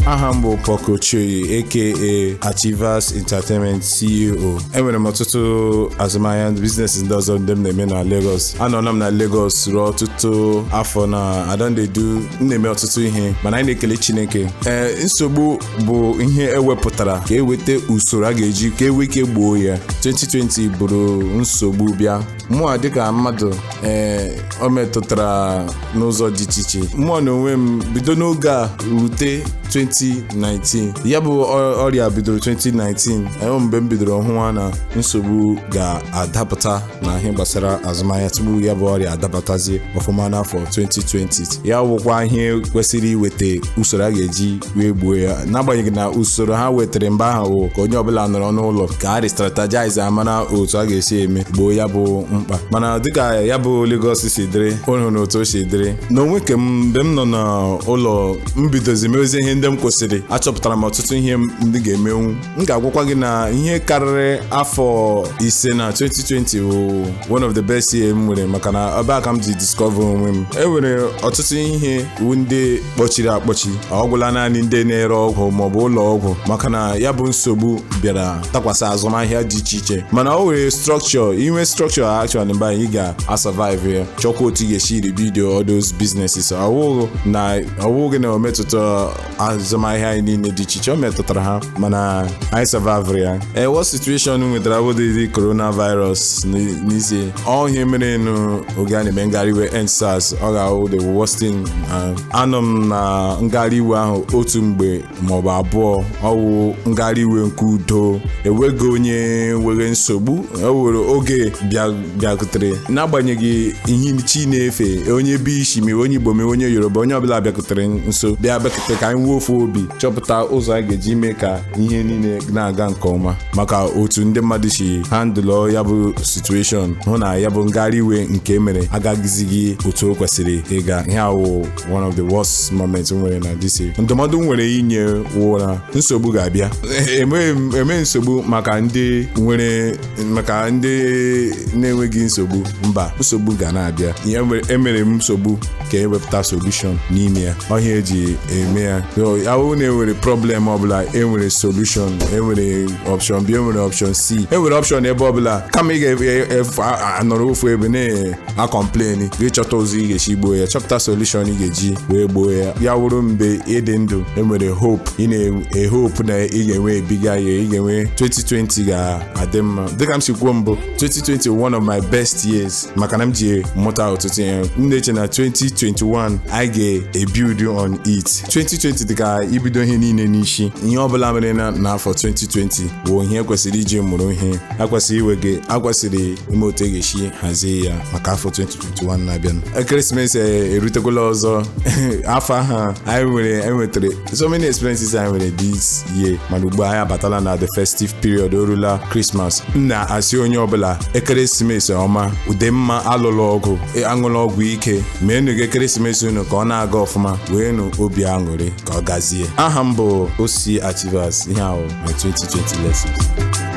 aha m bụ Paul Cole Chiori aka Achievas Entertainment CEO enwere m ọtụtụ azụmahịa business ndị ọzọ ndị m na-eme na Lagos anọla m na Lagos ruo ọtụtụ afọ na I don dey do m na-eme ọtụtụ ihe mana anyị na-ekele chineke ee nsogbu bụ ihe ewepụtara ka eweta usoro a ga-eji ka enwe ike gboo ya 2020 buru nsogbu bịa mụa dịka mmadụ ee o metụtara n'ụzọ dị iche iche mụa n'onwe m bido n'oge a rute 2019 ya bụ ọ- ọrịa bidoro 2019 ee mgbe m bidoro hụwa na nsogbu ga-adapụta na ihe gbasara azụmahịa tupu ya bụ ọrịa adabatazie ọfụma n'afọ 2020 ya wụkwa ihe kwesịrị iweta usoro a ga-eji wee gbuo ya n'agbanyeghị na usoro ha wetara mgbe ahụ bụ ka onye ọbụla nọrọ n'ụlọ ka a restrategize a mara otu a ga-esi eme gboo ya bụ mkpa mana dịka ya bụ Lagos si dịrị unu na otu o si dịrị n'onwe ke m mgbe m nọ n'ụlọ m bidozi mewezie ihe ndị m kwesịrị achọpụtara m ọtụtụ ihe ndị ga-emenwu m ga-agwakwa gị na ihe karịrị afọ ise na 2020 bụ one of the best year m nwere maka na ebe a ka m ji discover onwe m e nwere ọtụtụ ihe ndị kpọchiri akpọchi ọ gwụla naanị ndị na-ere ọgwụ maọbụ ụlọ ọgwụ maka na ya bụ nsogbu bịara dakwasị azụmahịa dị iche iche mana o nwere structure i nwee structure actually mgbe anyị ga-asurvive ya chọkwa otu ị ga-esi rebuild all those businesses ọwụghị na ọwụghị na o metụta azụmahịa anyị niile dị iche iche o metụtara ha mana anyị savavụrụ ya worst situation m nwetara abụdịghị coronavirus n- n'ezie ọ ihe merenụ oge a na-eme ngagharị iwe EndSARS ọ ga-awụ the worst thing na anọ m na ngagharị iwe ahụ otu mgbe maọbụ abụọ ọwụ ngagharị iwe nke udo enweghị onye nwere nsogbu o nwere oge bịa bịakutere n'agbanyeghị ihe chi ị na-efe onye ebe i si ma ị wụ onye Igbo ma ị wụ onye Yoruba onye ọbụla bịakutere nso bịa bịakutere ka anyị nwee ofu obi chọpụta ụzọ a ga-eji mee ka ihe niile na-aga nke ọma maka otu ndị mmadụ si handụlọ ya bụ situation hụ na ya bụ ngagharị iwe nke e mere agaghịzighị otu o kwesịrị ịga ihe a wụ one of the worst moments m nwere na this year ndụmọdụ m nwere inye wụ na nsogbu ga-abịa emeghị nsogbu maka ndị nwere maka ndị na-enweghị nsogbu mba nsogbu ga na-abịa emere nsogbu ka ewepụta solution n'ime ya ọ ihe eji eme ya wụ na enwere problem ọbụla enwere solution enwere option b enwere option c enwere option ebe ọbụla kama ị ga-anọrọ ofu ebe na na-acomplain gị chọta ụzọ ị ga-esi gboo ya chọpụta solution ị ga-eji wee gboo ya ya wụrụ mgbe ị dị ndụ e nwere hope ị na-ehope na ị ga-enwe a bigger year ị ga-enwe 2020 ga-adị mma dịka m si kwuo mbụ 2020 one of my best years maka na m ji mụta ọtụtụ ihe m na-eche na 2021 I ga-ebuild on it 2020 dịka ibido ihe niile n'isi ihe ọbụla mere na n'afọ 2020 bụ ihe e kwesịrị iji mụrụ ihe e kwesịrị iwe gị e kwesịrị ime otu a ga-esi hazie ya maka afọ 2021 na-abịa ekeresimesi erutekwala ọzọ afọ a anyị nwere enwetara so many experiences anyị nwere this year mana ugbu anyị abatala na the festive period orula Christmas m na-asị onye ọbụla ekeresimesi ọma ude mma alụla ọgụ aṅụla ọgwụ ike meenụ ka ekeresimesi unu ka ọ na-aga ọfụma nweenụ obi aṅụrị ka ọ gazie aha m bụ Ossy Achievas ihe a wụ my 2020 lessons